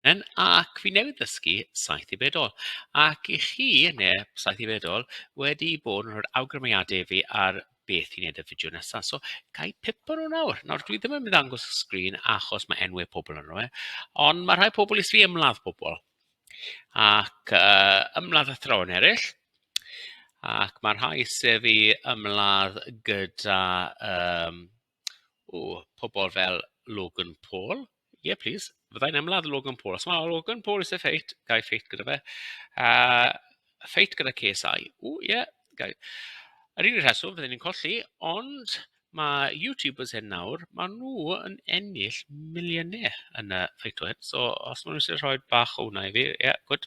Yn ac fi newydd ddysgu saith i bedol. Ac i chi, neu saith i bedol, wedi bod yn rhoi'r awgrymiadau i fi ar beth i wneud y fideo nesaf. So, ga i pipo nhw nawr. Nawr, dwi ddim yn mynd angos y sgrin achos mae enwau pobl yn rhoi, ond mae rhai pobl eisiau fi ymladd pobl. Ac uh, ymladd athrawon eraill. Ac mae rhai eisiau fi ymladd gyda um, Ww, pobol fel Logan Paul? Ie plis, fydda i'n ymladd Logan Paul. Os mae Logan Paul eisiau ffeit, ga i ffeit gyda fe. A ffeit gyda KSI. Ww, ie, ga i. Yr unig rheswm fydden ni'n colli, ond mae YouTubers hyn nawr, maen nhw yn ennill miliynau yn y ffeit o hyn. So os maen nhw eisiau rhoi bach o hwnna i fi, ie, gwd.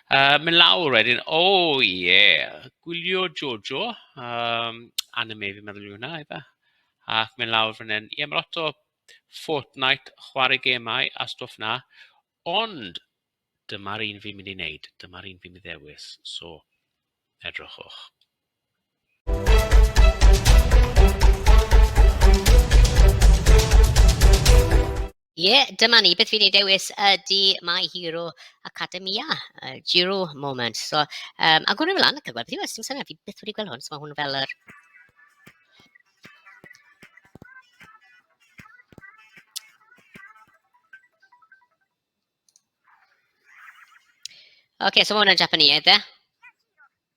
Uh, mynd lawr wedyn, o oh, ie, yeah. gwylio Jojo, um, anime fi'n meddwl yw hwnna, efe. Ac mynd lawr fan hyn, ie, yeah, mae lot o Fortnite, chwarae gemau a stwff na, ond dyma'r un fi'n mynd i wneud, dyma'r un fi'n mynd i ddewis, so edrychwch. Ie, yeah, dyma ni. Beth fi'n ei dewis ydy My Hero Academia, uh, Giro Moment. So, um, a gwrdd ymlaen ac yn gweld beth yw, dim syniad, fi beth wedi gweld hwn, so mae hwn fel yr... Oce, okay, so mae hwn yn Japaneaidd, e?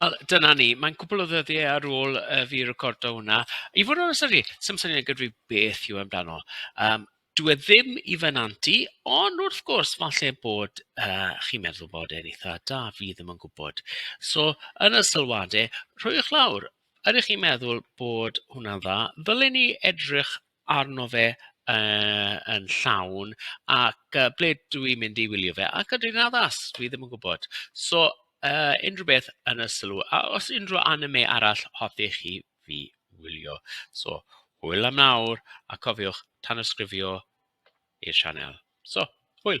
Wel dyna ni. Mae'n cwpl o ddyddiau ar ôl i fi recordo hwnna. I fod yn onest 'da fi, sa i'n gwbod gyda fi beth yw e amdano. Yym dyw e ddim i fy nant i, ond wrth gwrs falle bod yy chi'n meddwl bod e'n eitha' da, fi ddim yn gwybod. So yn y sylwadau rhowch lawr, ydych chi'n meddwl bod hwnna'n dda? Ddylen i edrych arno fe yy yn llawn ac yy ble dw i'n mynd i wylio fe? Ac ydw i'n addas? Dw i ddim yn gwybod. So yy unrhyw beth yn y sylw. A os unrhyw anime arall hoffech chi fi wylio. So hwyl am nawr a cofiwch tanysgrifio i'r sianel. So hwyl!